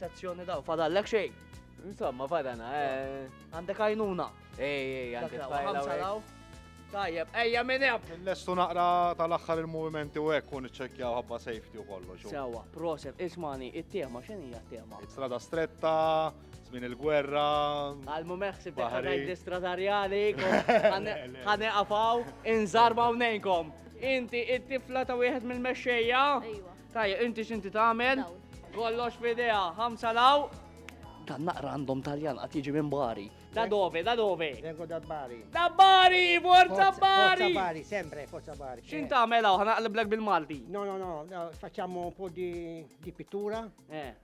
Sezzjoni daw, fadallek xejn. Insomma, fadana, eh. Għandek għajnuna. Ej, ej, għandek għajnuna. Tajjeb, ejja minn hemm. Lestu naqra tal-aħħar il-movimenti u hekk kun iċċekkjaw ħabba safety u kollox. Sewa, proset, ismani, it-tema x'in hija t-tema? Strada stretta, żmien il-gwerra. Għal mumeħ sib ngħid stradarjali, ħane qafaw, inżarba hawnejnkom. Inti it-tifla ta' wieħed mill-mexxejja? Tajja, inti x'inti tagħmel? Kollox f'idea, ħamsa law. Dan naqra għandhom Taljan qatt jiġi minn Bari. Da dove, da dove? Vengo da Bari. Da Bari, forza Bari! Forza Bari, sempre, forza Bari. X'int tagħmel hawn ħanaqliblek bil-Malti? No, no, no, facciamo un po' di, di pittura. Eh.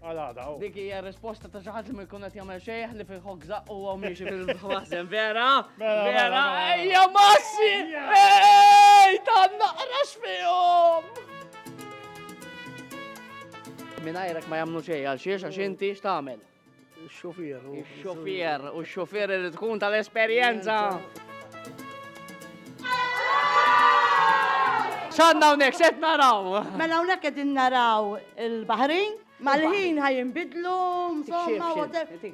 Għal-għada, oh. Dik hija risposta ta' xi ħadd li ma jkun qed jagħmel xejn li fil ħokza u huwa miexi fil-ħważen, vera? Mela, mela, vera, mela. ejja massi! Ej, ta' naqrax fihom! Minajrek ma jamnu xej, għal xiex, għax inti x'tagħmel. Ix-xufier. Ix-xufier u x-xufier irid tkun tal-esperjenza. ċanna unek, xed naraw. Mela unek edin naraw il-Bahrin, mal-ħin ħajin bidlu, insomma,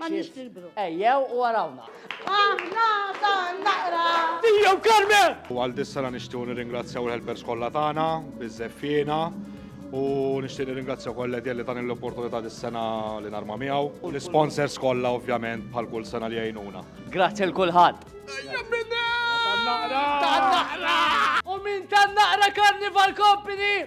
ma nix nilbru. Ejjew u għarawna. Aħna dan naqra. Ija u Carmen! U għal dis-sena nixtiequ nirringrazzjaw il-helpers kollha tagħna, biż-żeffiena, u nixtieq nirringrazzja wkoll Edja li tani l-opportunità dis-sena li narma miegħu, u l-isponsors kollha ovvjament bħal kull sena li jgħinuna. Grazzi għal kulħadd. Ejja bnedmin! Tan-Naqra! Tan-Naqra! U minn Tan-Naqra Carnival Company!